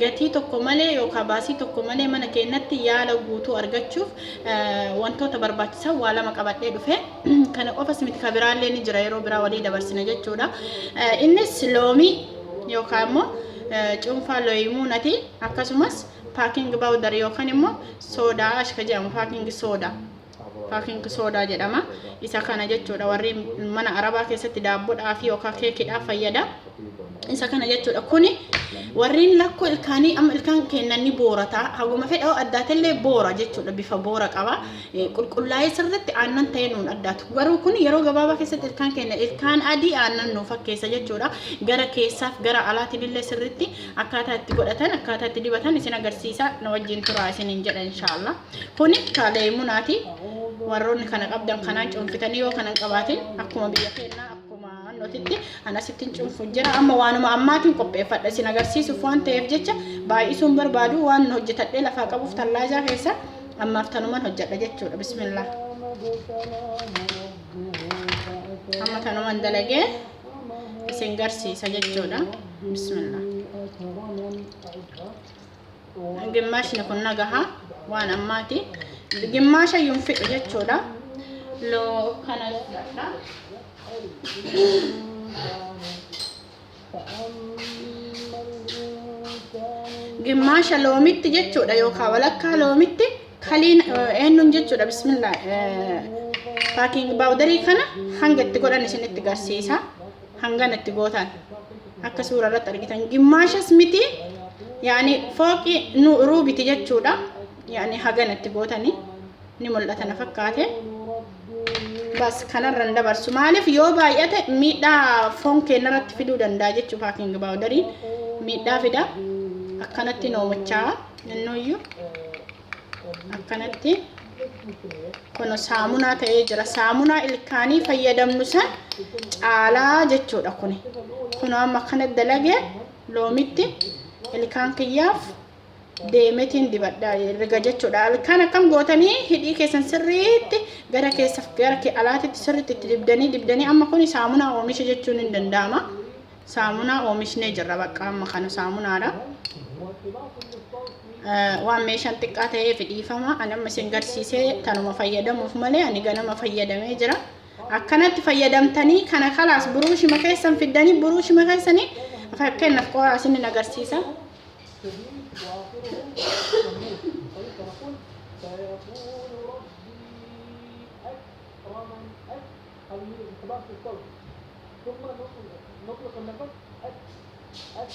Gatii tokko malee yookaa baasii tokko malee mana keennatti yaala guutuu argachuuf wantoota barbaachisan waa lama qabadhee dhufe. Kana qofas miti ka biraallee ni jira yeroo biraa walii dabarsina jechuudha. Innis loomii yookaan immoo cuunfaa looyimuunati akkasumas paaking baawudar yookaan immoo soodaa ashka jedhamu paaking soodaa. Packing soda jedhama. Isa kana jechuudha warri mana arabaa keessatti daabbodhaa fi yookaan keekidhaaf fayyada. Isa kana jechuudha. Kuni warreen lakkoo ilkaanii amma ilkaan kennan ni boorata. Haguma fedha addaatellee boora jechuudha. Bifa boora qaba. Eh, Qulqullaa'ee sirriitti aannan ta'ee nuun addaatu. Garuu kun yeroo gabaabaa keessatti ilkaan kenna ilkaan adii aannan nuu fakkeessa jechuudha. Gara keessaaf gara alaatiin illee sirriitti akkaataa itti godhatan akkaataa itti dibatan isin agarsiisa na wajjin turaa isiniin jedha inshaallah. Kuni kaaleemunaati. Warroonni kana qabdan kanaan cuunfitanii yoo kanan qabaatin akkuma biyya keenyaa akkuma notitti anasittiin cuunfuun jira. Amma waanuma ammaatiin qopheeffadha isin agarsiisuuf waan ta'eef jecha baay'isuun barbaadu waan hojjetadhee lafaa qabuuf tallaajaa keessa ammaaf tanuman hojjedha jechuudha. Bismillah. Amma tanuman dalagee isin garsiisa jechuudha. Bismillah. Gimmaashni kun na gaha waan ammaati. Gimmaasha yuun fixu jechuudha. Loo kana fudhadha. Gimmaasha loomitti jechuudha yookaan walakkaa loomitti kaliin eenyuun jechuudha bismillah. Paakiingi baawudarii kana hanga itti godhan isinitti garsiisa. hangana itti gootan akka suura irratti argitan gimmaashas miti yaani fooqi nu ruubiti jechuudha yaani hagana itti gootani ni mul'ata na fakkaate bas kanarra hin dabarsu maaliif yoo baay'ate miidhaa foon keenya irratti fiduu danda'a jechuuf haaking baawudariin miidhaa fida akkanatti noomachaa nannoyyuu akkanatti kun saamunaa ta'ee jira saamunaa ilkaanii fayyadamnu san caalaa jechuudha kun kun amma kana dalage loomitti ilkaan kiyyaaf deemetiin dibadha riga jechuudha ilkaan akkam gootanii hidhii keessan sirriitti gara keessa gara alaatitti sirriitti itti dibdanii dibdanii amma kun saamunaa oomisha jechuun hin danda'ama saamunaa oomishnee jirra bakka amma kana saamunaadha waan meeshaan xiqqaa ta'eef dhiifama ani amma isin garsiisee tanuma fayyadamuuf malee ani ganama fayyadamee jira akkanatti fayyadamtanii kana kalaas buruushima keessan fiddanii buruushima keessanii fakkeenyaaf qoraa isin agarsiisa halluu dhukkubaa xiqqoodha. Dhuguma noqna kan naqan H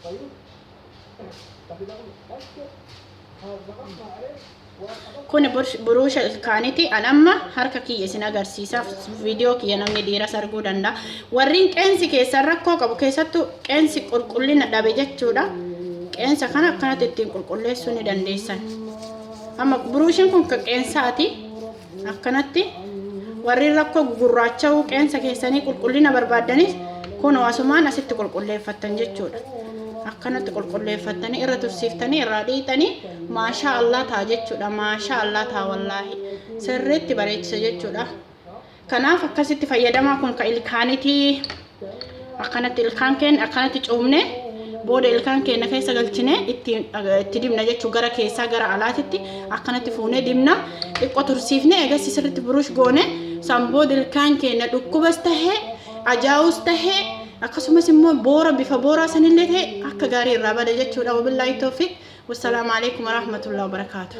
fayu kabila kun H haazaqan maaree waa qaban Kuni bur- buruusha ilkaaniti. An amma harka kiyya isin agarsiisaaf viidiyoo kiyya namni dhiiras arguu danda'a. Warriin qeensi keessan rakkoo qabu keessattuu qeensi qulqullina dhabe jechuudha. Qeensa kana akkanatti ittiin qulqulleessuu ni dandeessan. Amma buruushiin kun kan qeensaati. Akkanatti warri rakkoo gugurraacha'uu qeensa keessanii qulqullina barbaaddanis kunoo asumaan asitti qulqulleeffattan jechuudha. Akkanatti qulqulleeffattanii irra tursiiftanii irraa dhiixanii maashaa allaa ta'a jechuudha. Maashaa allaa ta'a wallaahi. Sirriitti bareechisa jechuudha. Kanaaf akkasitti fayyadamaa kun ka ilkaanitii. akkanatti ilkaan keenya akkanatti cuumne booda ilkaan keenya keessa galchine itti itti dibna jechuun gara keessaa gara alaatitti akkanatti fuunee dibna xiqqoo tursiifne eegas sirriitti burush goone san booda ilkaan keenya dhukkubas tahee ajaa'us tahee akkasumas immoo boora bifa booraa sanillee ta'e akka gaarii irraa bada jechuudha wabillaahi toofiq wassalaamu alaikum warahmatullahi wabarakaatuh